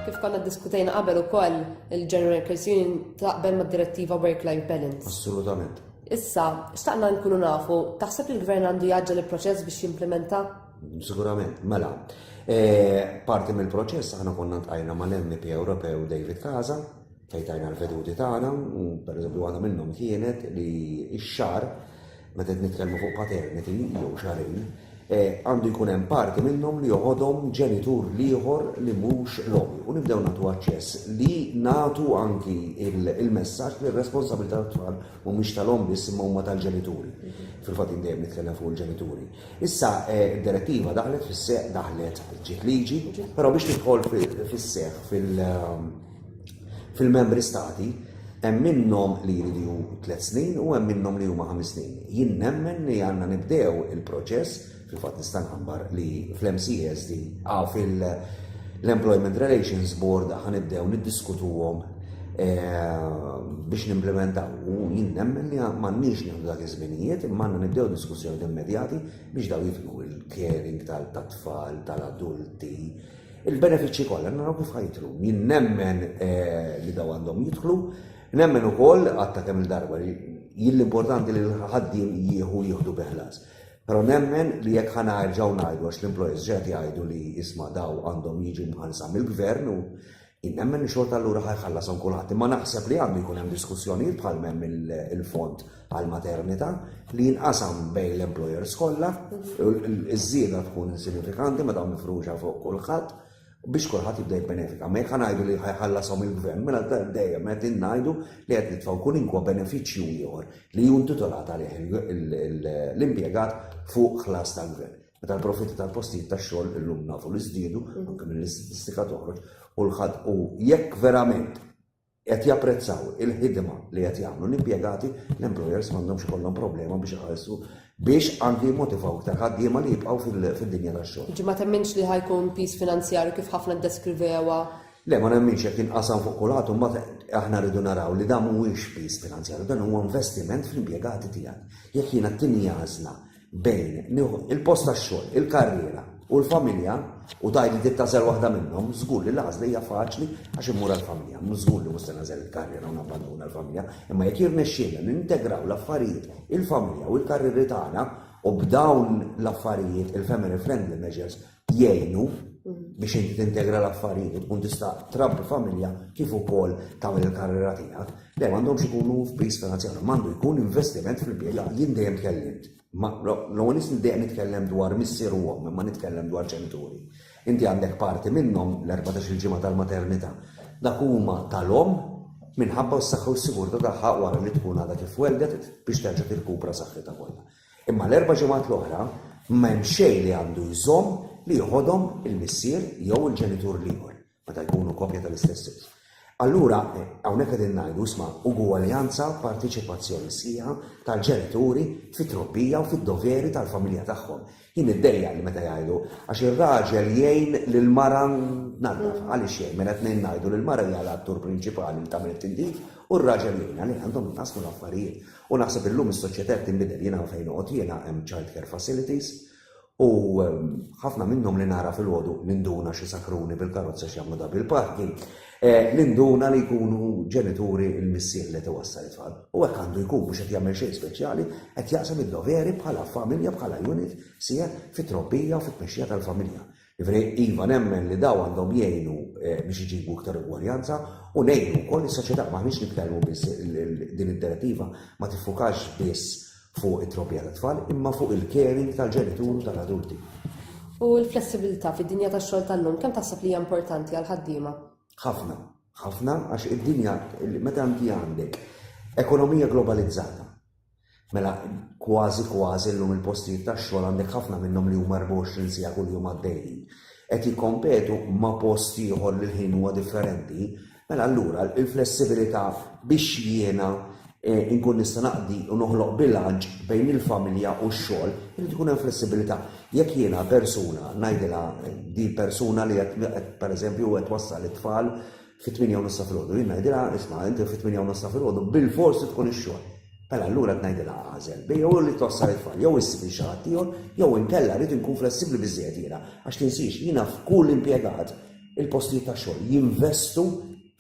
Kif konna ddiskutejna qabel ukoll il-General Workers Union taqbel mad-direttiva Work-Life Balance. Assolutament. Issa, xtaqna nkunu nafu, taħseb li l-gvern għandu jaġġel il-proċess biex jimplementa? Sigurament, mela. E, parti mill-proċess aħna konna ntajna mal-MP Ewropew David Kaza, Fejn tajna l-veduti tagħna, u pereżempju waħda minnhom kienet li x-xar meta qed nitkellmu fuq paternity jew xarin, eh, għandu jkun hemm parti minnhom li joħodhom ġenitur l-ieħor li mhux l-omm u nibdew nagħtu aċċess li nagħtu anki il-messaġġ li r-responsabilità tat-tfal mhumiex tal-omm biss imma huma tal-ġenituri. Fil-fatt dejjem nitkellem fuq il-ġenituri. Issa eh, d-direttiva daħlet fis-seq daħlet ġiet liġi, però biex tidħol fis-seq fil- Fil-Membri Stati, hemm minnhom li jridu tliet snin u hemm minnhom li huma ħames snin. Jien nemmen li għandna nibdew il-proċess, fil-fatt nista' nħabbar li fl-MCSD, ah, fil-Employment Relations Board ħa nibdew niddiskutuhom eh, biex nimplementaw. U jien nemmen li m'għandniex nieħdu dak iż-żminijiet, imma għandna nibdew diskussjoni immedjati biex daw jidħlu l-caring tal-tfal, tal-adulti, Il-benefiċċji kollha naraw kif ħajidħlu. Jien nemmen li daw għandhom jidħlu, nemmen ukoll għatta kemm il-darba li jien l-importanti li l-ħaddiem jieħu jieħdu biħlas. Però nemmen li jekk ħana erġgħu ngħidu għax l-employers ġed jgħidu li isma' daw għandhom jiġu mħallsa mill-gvern u jien nemmen li xorta allura ħajħallasom kulħadd. Imma naħseb li għandu jkun hemm diskussjonijiet bħal hemm il-fond bħal maternità li jinqasam bejn l-employers kollha, iż-żieda tkun insignifikanti meta mifruxa fuq kulħadd biex kulħadd jibda jibbenefika. Ma jekk ngħidu li ħajħallasom il-gvern, mela dejjem qed ngħidu li qed nitfgħu kull inkwa benefiċċju ieħor li hu intitolat għalih l-impjegat fuq ħlas tal-gvern. Meta l-profitti tal-postijiet tax-xogħol illum nafu li żdiedu, anke mill-istatistika toħroġ, u l-ħadd u jekk verament qed japprezzaw il-ħidma li qed jagħmlu l-impjegati, l-employers m'għandhomx ikollhom problema biex iħallsu biex anki jimmotivaw iktar ħaddiema li jibqgħu fid-dinja tax-xogħol. Jiġifieri ma temminx li ħa jkun piż finanzjarju kif ħafna ddeskrivewha? Le, ma nemminx jekk jinqasam fuq kulħadd u mbagħad aħna rridu naraw li dan mhuwiex piż finanzjarju, dan huwa investiment fl-impjegati tiegħek. Jekk jiena t-tieni għażla bejn nieħu il-post tax-xogħol, il-karriera u l-familja u tajli tittażel waħda minnhom, żgur li l-għażla hija faċli għax immur għall-familja. Żgur li mhux se nażel il-karriera u nabbandun għall-familja, imma jekk jirnexxielna nintegraw l-affarijiet il-familja u l-karrieri tagħna u b'dawn l-affarijiet il-family friendly measures jgħinu biex inti tintegra l-affarijiet u tkun tista' trabbi familja kif ukoll tagħmel il-karriera tiegħek, le m'għandhomx ikunu f'piż finanzjarju, m'għandu jkun investiment fil-bidla. Jien dejjem tkellimt, l-ewwel nies dejjem nitkellem dwar missier u omm, imma nitkellem dwar ġenituri. Inti għandek parti minnhom l-14 il-ġimgħa tal-maternità. Dak huma tal-omm minħabba s-saħħa u s-sigurtà tagħha wara li tkun għadha kif weldet biex terġa' tirkupra saħħitha kollha. Imma l-erba' ġimgħat l-oħra ma hemm xejn li għandu jżomm li joħodhom il-missier jew il-ġenitur l-ieħor, meta jkunu koppja tal-istess żewġ. Allura, hawnhekk qegħdin ngħidu, isma', ugwaljanza, parteċipazzjoni sħiħa tal-ġenituri fit-trobbija u fid-doveri tal-familja tagħhom. Jien niddejjaq li meta jgħidu, għax ir-raġel jgħin lill-mara tnaddaf. Għaliex jgħin? Mela t-tnejn ngħidu li l-mara hija l-attur prinċipali li tagħmel it-tindif u r-raġel jgħinha. Le, għandhom jitqassmu l-affarijiet. U naħseb illum is-soċjetà qed tinbidel. Jiena hawn fejn noqgħod jiena hemm child care facilities u ħafna minnhom li nara filgħodu ninduna xi sakruni bil-karozza x'jagħmlu double parking, eh, ninduna li jkunu ġenituri l-missier li tiwassal it-tfal. U hekk għandu jkun mhux qed jagħmel xejn speċjali, qed jaqsam id-doveri bħala familja, bħala unit, sieħ fit-trobbija u fit-tmexxija tal-familja. Jiġifieri, iva nemmen li dawn għandhom jgħinu biex iġibu iktar ugwaljanza u ngħinu wkoll is-soċjetà. M'aħniex nitkellmu biss din id-direttiva ma tiffukax biss fuq it-trobbija tat-tfal imma fuq il-caring tal-ġenitur u tal-adulti. U l-flessibilità fid-dinja tax-xogħol tal-lum kemm taħseb li hija importanti għall-ħaddiema? Ħafna. Ħafna għax id-dinja meta inti għandek ekonomija globalizzata, Mela kważi kważi llum il-postijiet tax-xogħol għandek ħafna minnhom li huma 24 siegħa kuljum għaddejjin. Qed jikkompetu ma' post ieħor li l-ħin huwa differenti, mela allura l-flessibilità biex jiena inkun nista' naqdi u noħloq bilanċ bejn il-familja u x-xogħol, irid ikun hemm flessibilità. Jekk jiena persuna ngħidilha din persuna li qed pereżempju qed twassal it-tfal fit-tmienja u nofs ta' filgħodu. Jien ngħidilha, isma', inti fit-tmienja u nofs ta' filgħodu bilfors trid tkun ix-xogħol. Mela allura qed ngħidilha agħżel, bejn jew li twassal it-tfal, jew issib lil xi ħadd ieħor, jew inkella rrid inkun flessibbli biżżejjed jiena, għax tinsiex, jiena f'kull impjegat, il-postijiet tax-xogħol jinvestu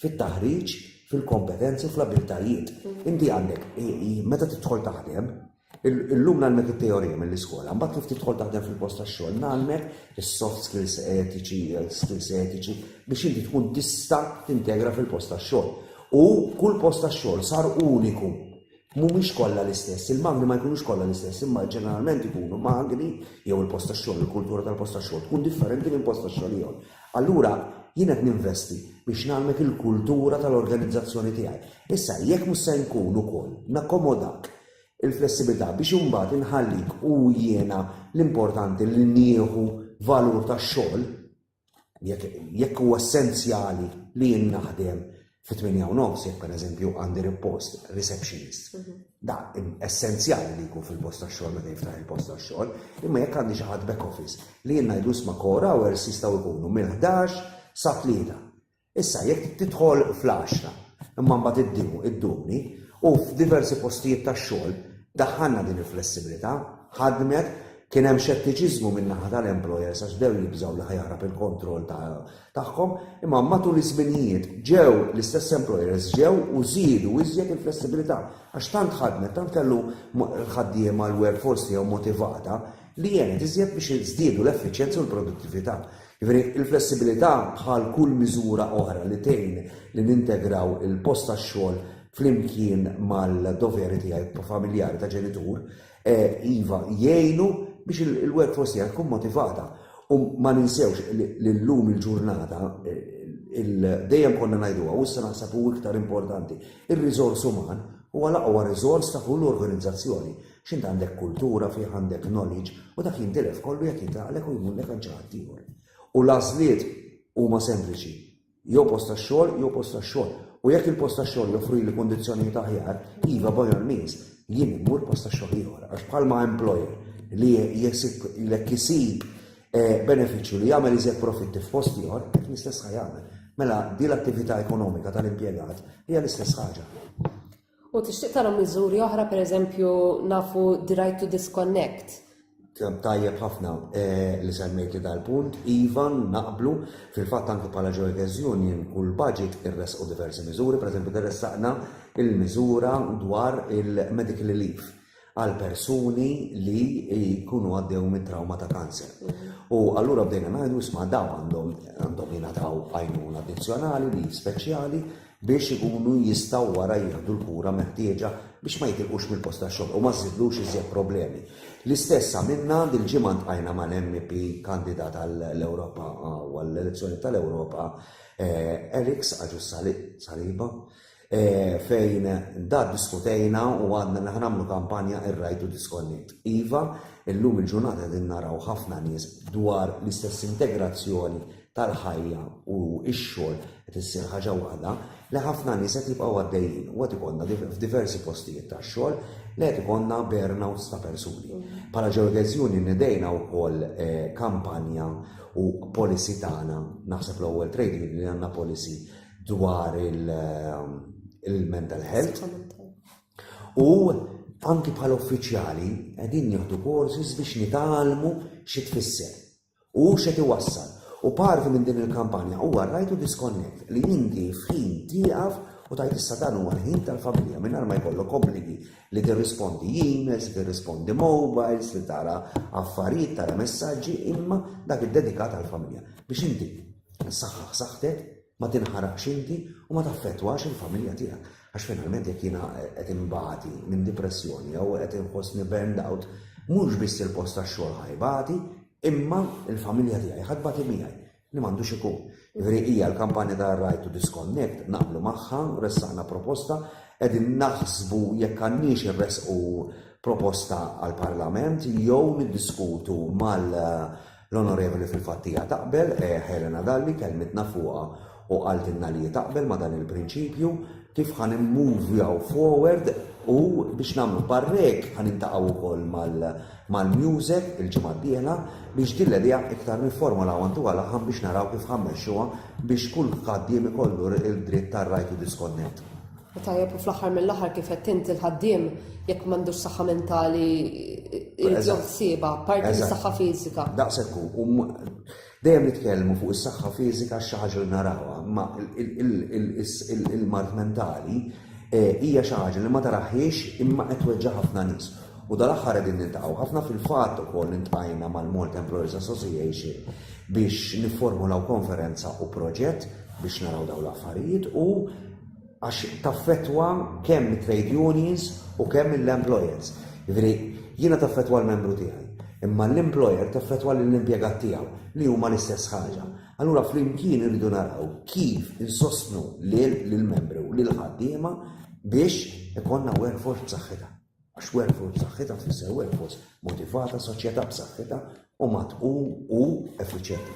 fit-taħriġ, fil-kompetenzi u fl-abbiltajiet. Inti għandek, meta tidħol taħdem, Illum nagħlmek it-teorija mill-iskola, mbagħad kif tidħol taħdem fil-post tax-xogħol nagħlmek is-soft skills etiċi, skills etiċi biex inti tkun tista' tintegra fil-post tax-xogħol. U kull post tax-xogħol sar uniku. Mhumiex kollha l-istess, il-magni ma jkunux kollha l-istess, imma ġeneralment ikunu magni jew il-post tax-xogħol, il-kultura tal-post tax-xogħol tkun differenti minn post tax-xogħol ieħor. Allura jien qed ninvesti biex nagħlmek il-kultura tal-organizzazzjoni tiegħi. Issa jekk mhux se nkun ukoll nakkomodak il-flessibilità biex imbagħad inħallik u jiena l-importanti li nieħu valur tax-xogħol jekk jekk huwa essenzjali li jien naħdem fi 8 u nofs jekk pereżempju għandi ripost receptionist. Mhm. Da essenzjali li jkun fil-post tax-xogħol meta jiftaħ il-post tax-xogħol, imma jekk għandi xi ħadd back office li jien ngħidu sma' kora hours jistgħu jkunu mill-11 sa tlieta. Issa, jekk tidħol fl-għaxra, imma mbagħad iddum, iddumni, u f'diversi postijiet tax-xogħol daħħalna din il-flessibilità, ħadmet, kien hemm xettiċiżmu min-naħa tal-employers għax bdew jibżgħu li ħajaħrab il-kontroll tagħhom, imma matul iż-żminijiet ġew l-istess employers ġew u żiedu iżjed il-flessibilità għax tant ħadmet, tant kellu l-ħaddiema l-workforce tiegħu motivata li għenet iżjed biex żdiedu l-effiċjenza u l-produttività. Jiġifieri, il-flessibilità bħal kull miżura oħra li tgħin li nintegraw il-post tax-xogħol flimkien mal-doveri tiegħi familjari ta' ġenitur, iva, jgħinu biex il-workforce tiegħi tkun motivata. U ma ninsewx li llum il-ġurnata dejjem konna ngħiduha u issa naħseb hu iktar importanti, ir-riżors uman huwa l-aqwa riżors ta' kull organizzazzjoni. X'int għandek kultura fih, għandek knowledge, u dak jintilef kollu jekk jitlaqlek u jmullek għand xi ħadd ieħor. U l-għażliet huma sempliċi. Jew post tax-xogħol, jew post tax-xogħol. U jekk il-post tax-xogħol joffrili kundizzjonijiet aħjar, iva by all means, jien immur post tax-xogħol ieħor. Għax bħalma employer li jesib lek isib eh, benefiċċju li jagħmel iżjed profitti f'post ieħor, qed l-istess ħajja jagħmel. Mela, di l-attività ekonomika tal-impjegat hija l-istess ħaġa. U tixtieq tara miżuri oħra, pereżempju nafu the right to disconnect, tajjeb ħafna eh, li semmejt li dal-punt, Ivan naqblu fil-fatt anke bħala Joyters Union u l-budget irresqu diversi miżuri, per eżempju interessaqna il-miżura dwar il-medical relief għal persuni li jkunu għaddew mit trauma ta' kanser. U allura bdejna ngħidu isma' daw għandhom għandhom jingħataw għajnuna addizzjonali li speċjali biex ikunu jistgħu wara jieħdu l-kura meħtieġa biex ma jitilqux mill-post tax-xogħol u ma żidlux iżjed problemi. L-istess għamilna dil-ġimgħa ntqajna mal-MP kandidat għall-Ewropa għall-elezzjoni tal-Ewropa eh, Eriks Aġus Saliba fejn da diskutejna u għadna li ħanamlu kampanja ir-right to disconnect. Iva, illum il-ġurnata din naraw ħafna nies dwar l-istess integrazzjoni tal-ħajja u x-xogħol qed issir ħaġa waħda li ħafna nies qed jibqgħu għaddejjin u qed ikollna f'diversi postijiet tax-xogħol li qed ikollna burnouts ta' persuni. Bħala ġeodeżjuni nidejna wkoll eh, kampanja u policy tagħna, naħseb l-ewwel trade li għandna policy dwar il-mental health u anki bħal uffiċjali qegħdin nieħdu courses biex nitalmu xi tfisser u xi tiwassal. U parti minn din il-kampanja huwa rajtu disconnect li inti f'ħin tieqaf u tajt issa dan huwa ħin tal-familja mingħajr ma jkollok obbligi li tirrispondi emails, li tirrispondi mobiles, li tara affarijiet, tara messaġġi, imma dak id-dedikat għall-familja biex inti Saħħaħ saħħtek, ma tinħaraqx inti u ma taffettwax il-familja tiegħek. Għax finalment jekk jiena qed inbati minn dipressjoni jew qed inħossni burned out, mhux biss il-post tax-xogħol ħajbati, imma il-familja tiegħi ħadd bati miegħi li m'għandux ikun. Jiġifieri hija l-kampanja ta' Right to Disconnect naqblu magħha, ressaqna proposta, qegħdin naħsbu jekk għandniex irresqu proposta għall-Parlament jew niddiskutu mal L-Onorevoli fil-fatt hija taqbel, Helena Dalli kellmitna fuqha u qaltilna li hi taqbel ma' dan il-prinċipju, kif ħa nimmuvjaw forward u biex nagħmlu parrek ħa niltaqgħu wkoll mal-MUSEC il-ġimgħa d-dieħla biex din l-idea iktar nifformulawha ntuha laħam biex naraw kif ħa mmexxuha biex kull ħaddiem ikollu d-dritt tar-right to disconnect. U tajjeb u fl-aħħar mill-aħħar kif qed inti l-ħaddiem jekk m'għandux saħħa mentali irid joħsiebha parti mis-saħħa fiżika. Daqshekk hu dejjem nitkellmu fuq is-saħħa fiżika xi ħaġa li narawha, ma il-mart mentali eh, hija xi ħaġa li ma taraħiex imma qed weġġa' ħafna nies. U dal-aħħar qegħdin nintaqgħu ħafna fil-fatt ukoll intqajna mal-Malt Employers Association biex nifformulaw konferenza u proġett biex naraw dawn l-affarijiet u għax taffettwa kemm it-trade unions u kemm l-employers. Jiġifieri jiena taffettwa l-membru tiegħi, imma l-employer taffettwa lill-impjegat tiegħu li huma l-istess ħaġa. Allura flimkien irridu naraw kif insostnu lill-membri u lill-ħaddiema biex ikollna workforce b'saħħitha. Għax workforce b'saħħitha tfisser workforce motivata, soċjetà b'saħħitha u matqu u effiċjenti.